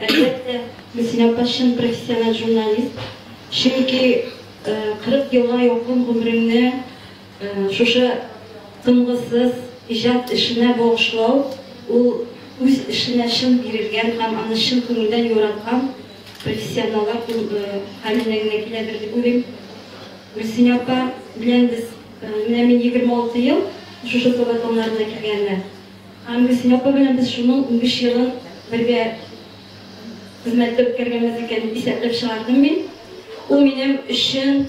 Әлбәттә, Мөсин апа чын профессиональ журналист. Чөнки 40 елга якын гомереңне Шушы тынгысыз иҗат эшенә багышлау, ул үз эшенә чын бирелгән һәм аны чын күңелдән яраткан профессионаллар хәленә генә киләдер дип уйлыйм. Гөлсинә апа белән без, менә мин егерме алты ел шушы сәба тоннарына килгәненә, һәм Гөлсинә апа белән без шуның унбиш елын бергә хезмәттә үткәргәнбез икән дип исәпләп чыгардым мин. Ул минем өчен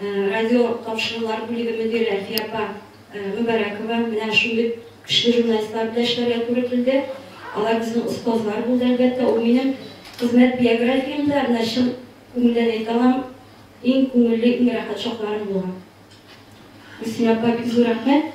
Радио тапшырулар бүлеге мөдире Әлфия апа Мөбарәкова менә шундый көчле журналистлар белән эшләргә туры килде. Алар безнең остазлар булды, әлбәттә. Ул минем хезмәт биографиямдә, менә чын күңелдән әйтә алам, иң күңелле, иң рәхәт чакларым булган. Гөлсинә апа, бик зур рәхмәт!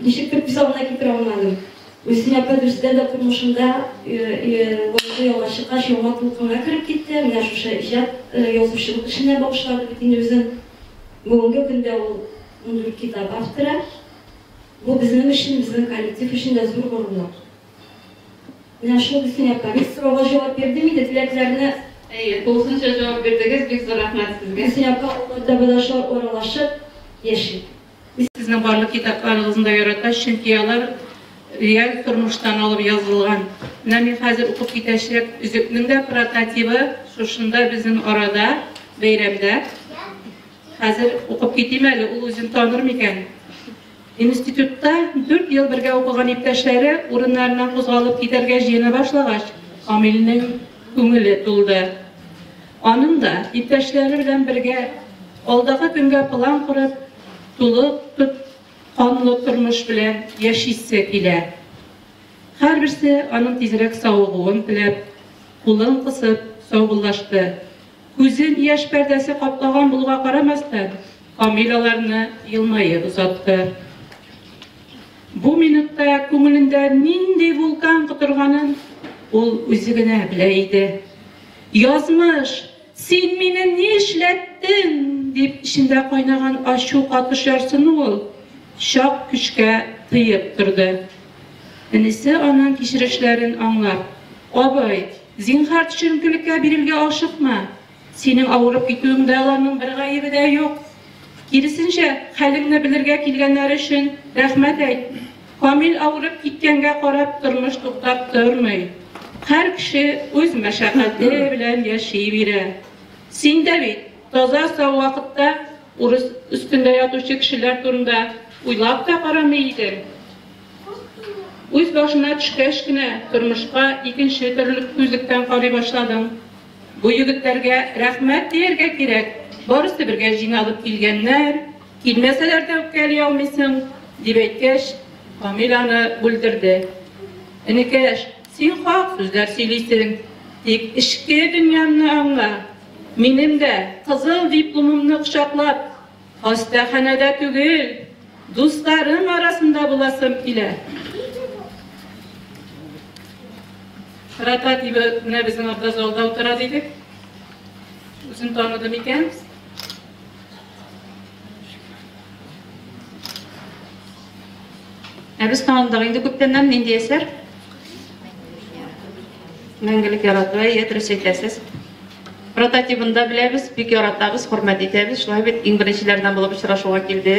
Ничектер күз алдына китерә алмадым. Гөлсинә апа дөрестән дә тормышында лаеклы ялга чыккач, яңа дулкынга кереп китте. Менә шушы иҗат, язучылык эшенә багышлады бит инде үзен. Бүгенге көндә ул ундүрт китап авторы. Бу безнең өчен, безнең коллектив өчен дә зур горурлык. Менә шул өстенә комик сорауга җавап бирдем инде, теләкләрне. Әйе, тулысынча җавап бирдегез, бик зур рәхмәт сезгә. Гөлсинә апа, ул монда бәлашар аралашып яши. Мин сезнең барлык китапларыгызны да ярата, чөнки алар реаль тормыштан алып язылган. Менә мин хәзер укып китәчәк өзекнең дә прототибы шушында безнең арада, бәйрәмдә. Хәзер укып китим әле, ул үзен таныр микән? Институтта дүрт ел бергә укыган иптәшләре урыннарыннан кузгалып китәргә җыена башлагач, Камилнең күңеле тулды. Аның да, иптәшләре белән бергә, алдагы көнгә план корып, тулы тот канлы тормыш белән яшисе килә. Һәрберсе аның тизрәк савыгуын теләп, кулын кысып саубуллашты. Күзен яшь пәрдәсе каплаган булуга карамастан, Камил аларны елмаеп озатты. Бу минутта күңелендә нинди вулкан котырганын ул үзе генә белә иде. Язмыш, син мине ни эшләттең? дип эчендә кайнаган ачу катыш ярсыну ул чак көчкә тыеп торды. Энесе аның кичерешләрен аңлап, Абый, Зинһар, төшенкелеккә бирергә ашыкма. Синең авырып китүеңдә аларның бер гаебе дә юк. Киресенчә, хәлеңне белергә килгәннәр өчен рәхмәт әйт. Камил авырып киткәнгә карап тормыш туктап тормый. Һәр кеше үз мәшәкате белән яши бирә. Син дә бит таза-сау вакытта урыс өстендә ятучы кешеләр турында уйлап та карамый идең. Үз башына төшкәч кенә тормышка икенче төрле күзлектән карый башладым. Бу егетләргә рәхмәт дияргә кирәк, барысы бергә җыйналып килгәннәр, килмәсәләр дә үпкәли алмыйсың, дип әйткәч, Камил аны бүлдерде. Энекәш, син хак сүзләр сөйлисең, тик эчке дөньямны аңла. Минем дә кызыл дипломымны кочаклап, Хастаханәдә түгел, дусларым арасында буласым килә. Рата дип менә безнең анда залда утыра дидек. Үзен таныды микән? Ә без таныдык инде күптәннән нинди әсәр? Мәңгелек ярату, әйе, дөрес әйтәсез. Прототибын да беләбез, бик яратабыз, хөрмәт итәбез. Шулай бит, иң беренчеләрдән булып очрашуга килде.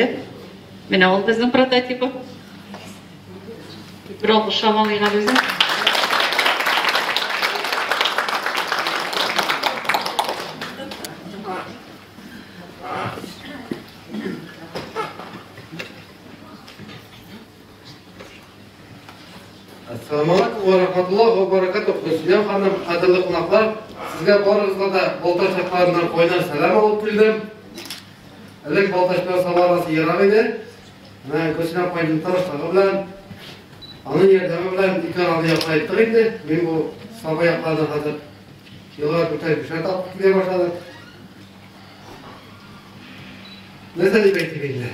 Менә ул безнең прототибы. Бер алгыш шамалыйга безнең. Ассаламу алейкум ва рахматуллах ва баракатух. Дөнья ханым, кадерле кунаклар, сезгә барыгызга да Балтач якларыннан кайнар сәлам алып килдем. Элек Балтачта сабарасы ерак иде. Менә Гөлсинә апайның тырышлыгы белән, аның ярдәме белән ике араны яклайттык инде. Мин бу саба якларда хәзер еллар үтә кеше тапып килә башлады. Нәрсә дип әйтик инде?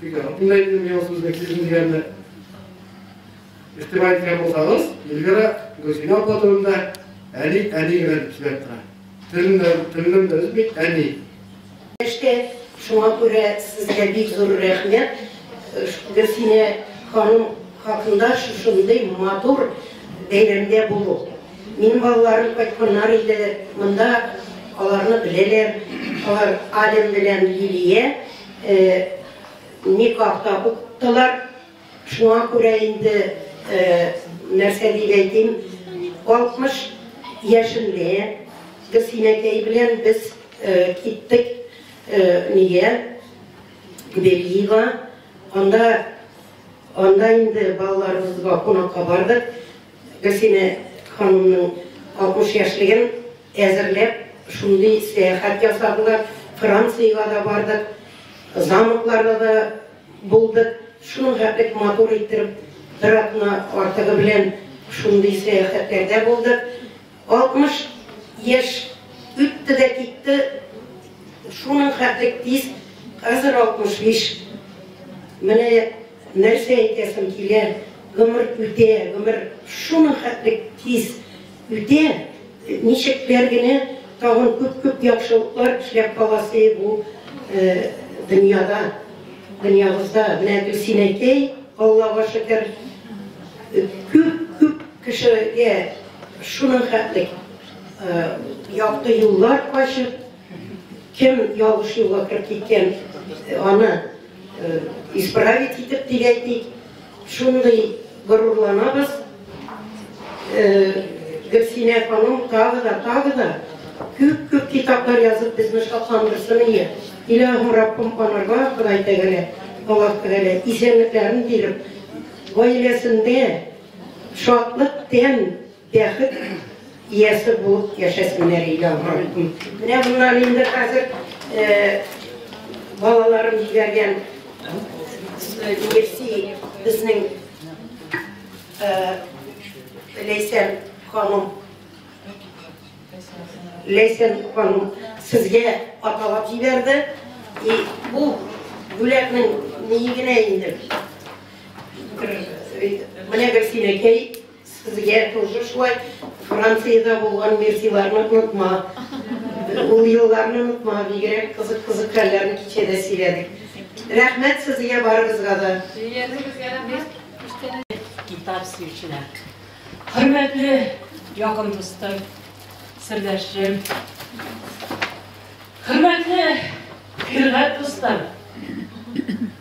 Бик рәхмәт инде әйтте миңа сүзнең сизен дигәнне. Игътибар иткән булсагыз, Эльвира Гөлсинә апа турында әни, әни генә дип сөйләп тора. Телемнән, телемнән дә өзми, әни. Эшкә шуңа күрә сезгә бик зур рәхмәт. Гөлсинә ханым хакында шушындый матур бәйрәмдә булу. Минем балаларым кайтканнар иде, монда аларны беләләр. Алар Ален белән Лилия. Никах та укыттылар. Шуңа күрә инде, нәрсә дип әйтим, 60 яшемдә Гөлсинәкәй белән без киттек нигә, Бельига. Анда, анда инде балаларыбызга кунакка бардык. Гөлсинә ханымның 60 яшьлеген Әзерләп, шундый сәяхәт ясадылар. Франциягә дә бардык, замокларда да булдык. Шуның хәтлек матур иттереп, бер атна артыгы белән шундый сәяхәтләрдә булдык. 60 яшь үтте дә китте, шуның хәтлек тиз, хәзер 65. Менә нәрсә әйтәсем килә, гомер үтә, гомер шуның хәтлек тиз. Үтә, ничектер генә тагын күп-күп яхшылыклар эшләп каласы бу дөньяда, дөньябызда. Менә Гөлсин әйтей, Аллага шөкер, күп-күп кешегә шуның хәтле якты юллар ачып, Кем ялгыш юлга кереп киткән, аны исправить итеп дип әйтик, шундый горурланабыз. Гөлсинә ханым тагы да, тагы да күп-күп китаплар язып безне шатландырсын ие. Илаһым Раббым анарга Ходай тәгәлә, Аллаһ тәгәлә исәнлекләрен биреп, гаиләсендә шатлык, тәм Бәхет иясе булып яшәсеннәр яңгыртын. Менә моннан инде хәзер балаларым җибәргән Нефти безнең Ләйсән ханым Ләйсән ханым сезгә аталап җибәрде. И бу бүләкнең нигенә инде. Менә Гөлсинәкәй Сезгә тоже шулай Франциядә булган Мессиларны онытма, ул елларны онытма, бигрәк кызык кызык хәлләрне кичәдә сөйләдек. Рәхмәт сезгә барыгызга да. Сөйләдегезгә рәхмәт. Гитар сөючеләр. Хөрмәтле якын дустым, сердәшем. Хөрмәтле хөрмәт дустым.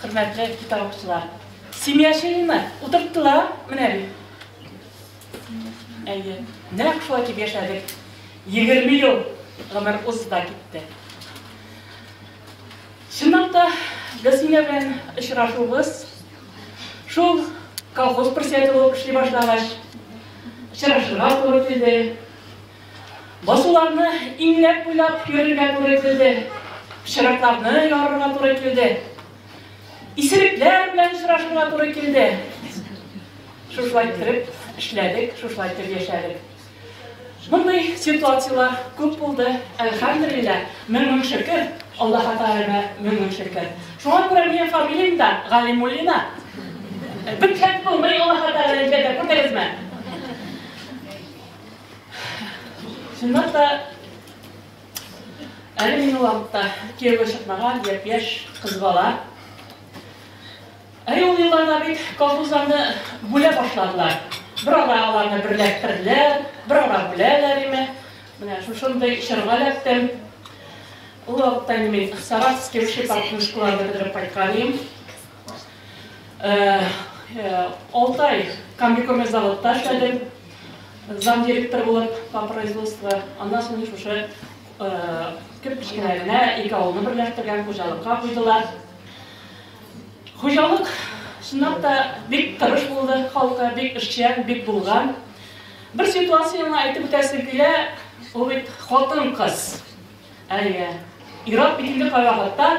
Хөрмәтле китап укучылар! Семья чыены утырттылар, менә бит. Әйе, нәкъ шулай итеп яшәдек. Егерме ел гомер узды да китте. Чынлап та, Гөлсемья белән очрашуыбыз шул колхоз председателе булып эшли башлагач очрашырга туры килде. Басуларны иңләп-буйлап йөрергә туры килде. Чыракларны ярырга туры килде. Исерекләр белән очрашырга туры килде. Шушылай кереп эшләдек, шушылай итеп яшәдек. Мондый ситуацияләр күп булды. Әлхәмдулилләһ, мең-мең шөкер, Аллаһ Тәгаләгә мең-мең шөкер. Шуңа күрә минем фамилиям дә Галимуллина. Бик хәт булмый Аллаһ Тәгаләгә дә күрдегезме? Шуннан да әле мине вакытта кияүгә чыкмаган япь-яшь кыз бала. Ә ул елларда бит колхозларны бүлә башладылар. Бер ара аларны берләштерделәр, бер ара бүләләр име. Менә шушындый чорга эләктем. Ул вакытта мин Саратовский общепартнушкаларда бетереп кайткан идем. Э, э, алты ай комбикорме заводта эшләдем зам директор булып по производству аннан соң шушы кеп э, кечкенә генә ике авылны берләштергән хуҗалыкка куйдылар хуҗалык чынлап та бик тырыш булды халкы бик эшчән бик булган бер ситуацияне әйтеп үтәсем килә ул бит хатын кыз әйе ират бит инде кайвакытта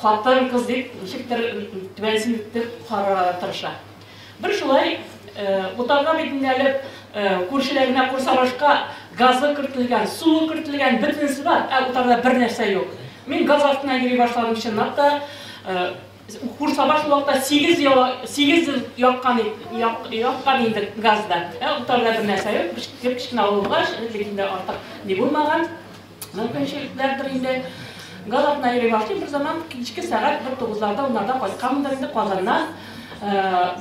Хатын кыз дип ничектер түбәнсен итеп карарга тырыша. Бер шулай утарга битендә әле күршеләренә курсалашка газы кертелгән, суы кертелгән, бөтенесе бар, ә утарда бер нәрсә юк. Мин газ астына йөри башладым чынлап та. Курсаба шул вакытта 8 ел 8 ел яккан яккан инде газда. Ә утарда бер нәрсә юк, кечкенә авылгач, ләкин дә артык ни булмаган. Мөмкинчелекләрдер инде. Галатына йөри башлыйм берзаман, кичке сәгать бер тугызларда, уннарда кайтканмындыр инде Казаннан.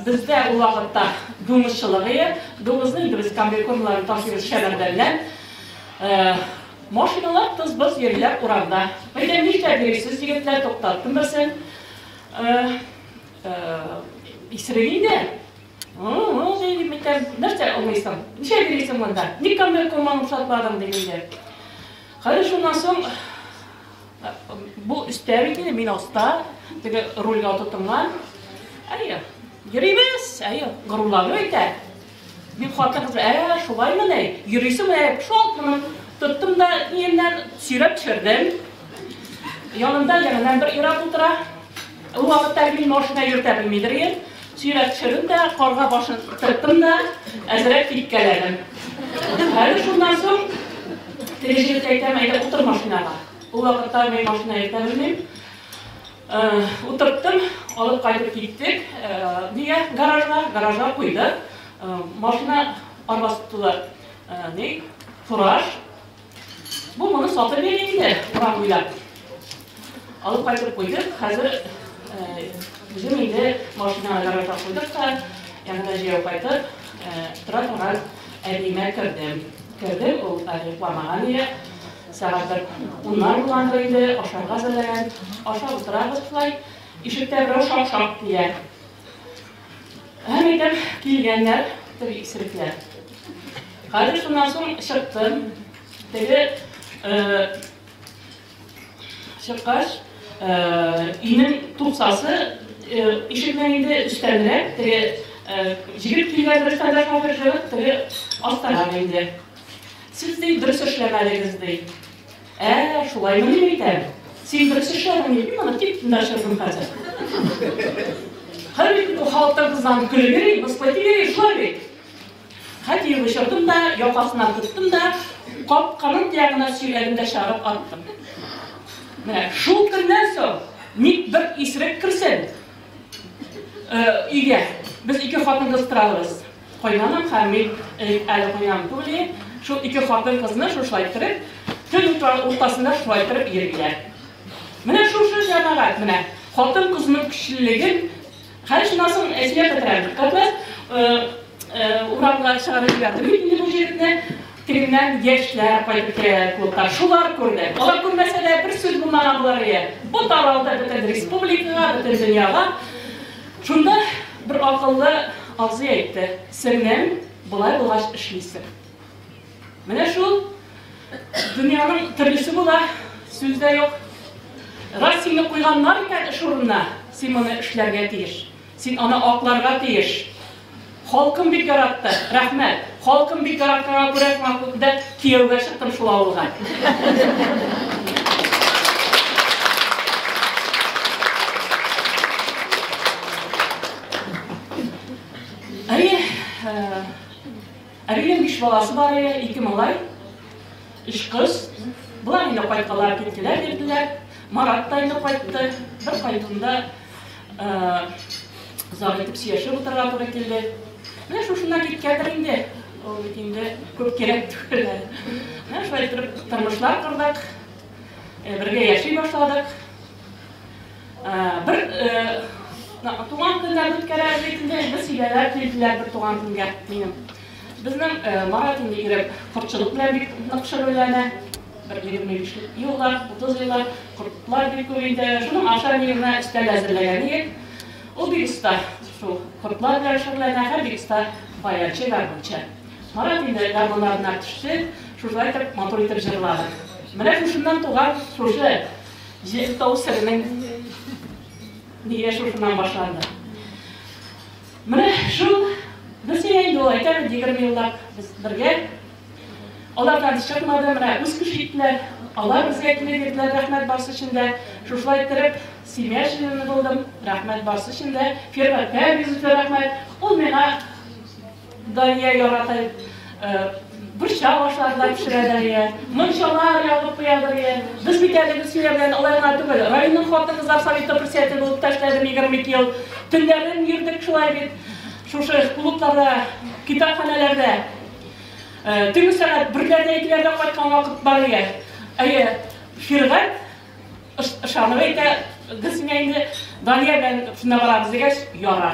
Бездә ул вакытта дуңгыз чылыгые, дуңгызны инде без комбикормнарны ташыйбыз Шәмәрдәннән. Машиналар тыз-быз йөриләр урамда. Әйдә, нишләп йөрисез, егетләр, туктаттым берсен. Исерек инде. Җәй дип әйтәм, нәрсә алмыйсың? Ничә бирисең монда? Ник камер коман рөхсатладың дигәндә. Хәзер шуннан соң бу өстә бит инде, мин аста, теге рульга тотынган. Әйе, йөрибез, әйе, горурланып әйтә. Бик хатын кыз, ә, шулаймы ни? Йөрисең менә, шалт моны тоттым да, иемнән сөйрәп төшердем. Янында янына бер ир-ат утыра. Ул вакытта мин машина йөртә белмидер идем. Сөйрәп төшердем дә, карга башын тырттым да, әзрәк типкәләдем. Әле шуннан соң теге җегет әйтәм, әйдә утыр машинага. Ул вакытта мин машина йөртә белмим. Э, утырттым, алып кайтып киттек. Э, нигә гаражга, гаражга куйдык. Э, машина арбасы тулы, ни, фураж, Бу моны сатып йөри инде, урам буйлап. Алып кайтып куйдык, хәзер үзем инде машинаны гаражга куйдык та, янына җәяү кайтып, тора торган әбиемә кердем. Кердем, ул әле йокламаган иде. Сәгать бер уннар булгандыр инде, ашарга әзерләгән. Ашап утырабыз шулай. Ишектә берәү шак-шак дия. Һәм итеп килгәннәр теге исерекләр. Хәзер шуннан соң чыктым. Теге э, чыккач, э, инем тупсасы э, ишекнең инде өстәнрәк, теге җигеп килгән бер сәдә кафе җигеп, теге астарак инде. Сез ди дөрес эшләмәдегез ди. Ә-ә, шулаймы, дип әйтәм. Син дөрес эшләдең, дип, мин аны тик дәшердем хәзер. Хәзер бит халыктан кызланып көлеп йөри, мыскыл итеп йөри, шулай бит. Хәтер бышырдым да, якасына тоттым да, капканың тиягына сөйләдем дә чыгарып аттым. Менә шул көннән соң ник бер исерек керсен, Э, өйгә. Без ике хатын-кыз торабыз. Кайнаным һәм мин элек әле кайнам түгел идем, шул ике хатын-кызны шушылай иттереп, төн уртасында шулай иттереп йөриләр. Менә шушы җәмәгать менә хатын-кызның көчлелеген хәл шуннан соң әсия бетерәм. Катнас урамга чыгарып җибәрде бит инде бу җегетне. Тегеннән яшьләр кайтып керәләр клубка. Шулар күрде. Алар күрмәсә дә бер сүз булмаган булар иде. Бу таралды бөтен республикага, бөтен дөньяга. Шунда бер акыллы абзый әйтте, Сеңлем, болай булгач эшлисең. Менә шул дөньяның төрлесе була, сүз дә юк. Раз сине куйганнар икән эш урынына, син моны эшләргә тиеш. Син аны акларга тиеш. Халкым бик яратты, рәхмәт. Халкым бик яратканга күрә шуңа күрә дә кияүгә чыктым шул авылга. Әйе, Әбилем биш баласы бар иде, ике малай, өч кыз. Болар инде кайткалар, киттеләр, йөрделәр. Марат та инде кайтты. Бер кайтуында Озак итеп сөйләшеп утырырга туры килде. Менә шушыннан киткәндер инде. Ул бит инде күп кирәк түгел. Менә шулай итеп тормышлар кордык. Э, бергә яши башладык. Э, бер э, туган көнгә үткәрәбез инде. Без сөйләләр килделәр бер туган көнгә минем. Безнең Марат инде ирек кортчылык белән бик нык шөгыльләнә. Бер егерме биш еллар, утыз еллар кортлар бик күп инде. Шуның аша ни генә өстәл әзерләгән идек. Ул бик оста шул кортлар белән шөгыльләнә һәм бик оста баянчы, гармунчы. Марат инде гармуннарына төште, шушылай итеп матур итеп җырлады. Менә шушыннан туган шушы җыр тау серенең нигә шушыннан башланды. Менә шул бер син инде ул әйтә бит, егерме еллап без бергә. Алардан чыкмады, менә үз көч иттеләр. Алар безгә килеп йөрделәр, рәхмәт барсы өчен дә. Шушылай иттереп, семья члены булдым, рәхмәт барсы өчен дә. Фиргатькә бик зур рәхмәт. Ул миңа Дания ярата Борчак ашларда пешерәләр иә. Мунчалар ягып куядыр иә. Без бит әле Гөлсия белән алай гына түгел. Районның хатын-кызлар советы председателе булып та эшләдем 22 ел. Төннәрен йөрдек шулай бит. Шушы клубларда, китапханәләрдә. Төнге сәгать берләрдә, икеләрдә кайткан вакыт бар иә. Әйе, Фиргать ышанып әйтә, Гөлсия инде Дания белән шунда барабыз дигәч, яра.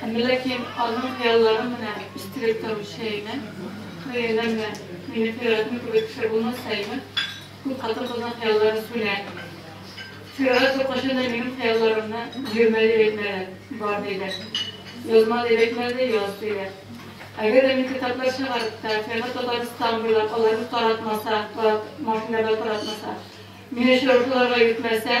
Әмма ләкин аның хыялларын менә истереп торучы әйме, кырыеныңмы, мине кыйратмый кебек кеше булмасаймы? Күп хатын-кызның хыялларын сүнә. Фиргать зур кайчан да минем хыялларымны бирмә дип әйтмәде, бар диде. Язма дип әйтмәде, яз диде. Әгәр дә мин китаплар чыгарып та, Фиргать Татарстан буйлап аларны таратмаса, таратмас, инде алар таратмаса, мине очрашуларга йөртмәсә,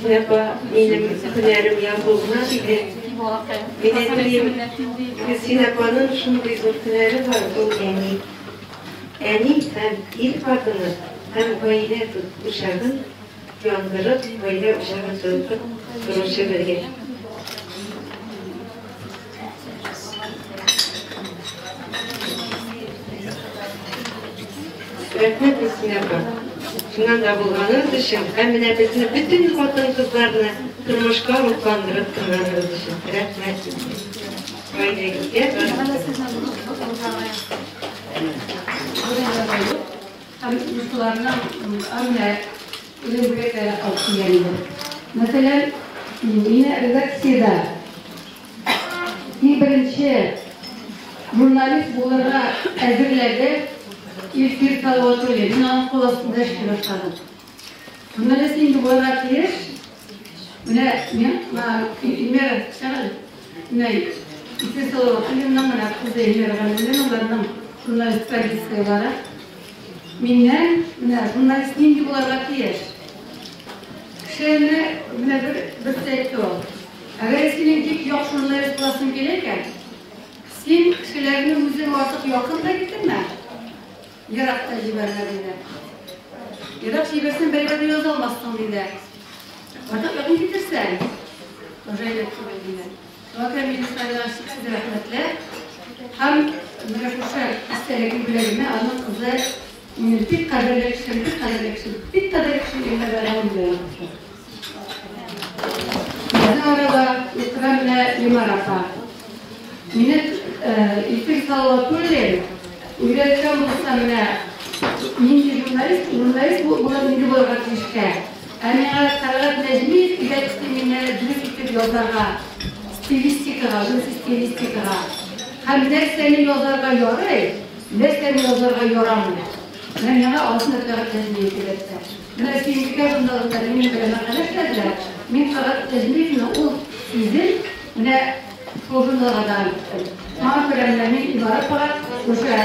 Зинәба, минем һөнәрем язуына диде. Мин әйтелим, Зинәбаның шундый зур һөнәре бар, ул әни. Әни һәм ил хатыны һәм гаилә учагын яндырып, гаилә учагын тотып торучы бергә. Рәхмәт Мискинә апа. Шуннан да булганыгыз өчен һәм менә безне бөтен хатын-кызларны тормышка рухландырып торганыгыз өчен рәхмәт сезгә. Гаиләгезгә Һәм кызларның Үлем бүләкләре алып килгән иде. Мәсәлән, мине редакциядә иң беренче журналист булырга әзерләде Илфир Салаватуллин. Мин аның кул астында эшли башладым. Журналист нинди булырга тиеш? Менә мин, Илмира, чыгыгыз. Менә Илфир Салаватуллинның, менә кызы Илмира Гамзуллиналарның журналист позицияләре. Миннән, менә журналист нинди буларга тиеш? Кешеләрне менә бер берсе әйтте ул. Әгәр синең бик яхшы журналист буласың килә икән, син кешеләрне үзең артык якын да китермә, ерак та җибәрмә диде. Ерак җибәрсәң, бәйбәт яза алмассың диде. Артык якын китерсәң, уже әйләнеп килә диде. Вәкаль министрга чиксез рәхмәтләр һәм менә шушы истәлекле бүләгемә аның кызы минем бик кадерле кешем, бик кадерле кешем, бик кадерле кешем Илнар Бәйрәмов белән кушты. Безнең арада ихтирам менә Лимар апа. Мине Илфир Салаватуллин өйрәткән булса менә нинди журналист, журналист булып булырга тиешкә. Ә миңа Тәлгать Нәҗмиев кирәкте, мине дөрес итеп язарга, стилистикага, дөрес стилистикага. Һәм нәрсәне язарга ярый, нәрсәне язарга ярамый. Менә миңа алтын Тәлгать Нәҗмиев кирәкте. Менә Сөембикә журналында минем белән мәкалә эшләделәр, мин Тәлгать Нәҗмиевны ул сүзен менә шул журналга да әйттем. Шуңа күрә менә мин Илнар апага шушы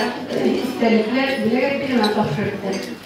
истәлекле бүләк әйттем һәм тапшырып бирдем.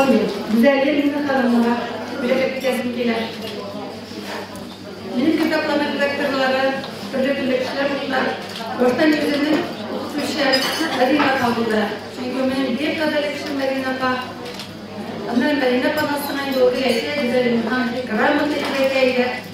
Амин. Гүзәлия Лина ханымга бүләк итәсем килә. Минем китапларны редакторлары, төрле бүлекчеләр булдылар. Башта үземнең укытучы Мәдина апа булды. Чөнки минем бик кадәр кеше Мәдина апа. Аннан Мәдина апаның астына инде ул әйтә, Гүзәлия ханым грамота итәргә иде.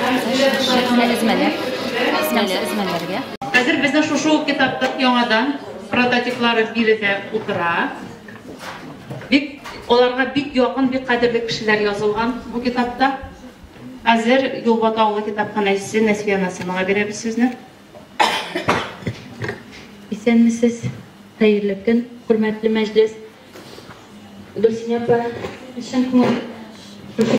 Шәхсенә эзмәләр. Әсмәләр, эзмәләргә. Хәзер безнең шушы ук китапта яңадан прототиплары биредә утыра. Бик аларга бик якын, бик кадерле кешеләр язылган бу китапта. Хәзер Юлбата авылы китапханәчесе Нәсвия Насыймага бирәбез сүзне. Исәнмесез, хәерле көн, хөрмәтле мәҗлес. Гөлсинә апа, чын күңел.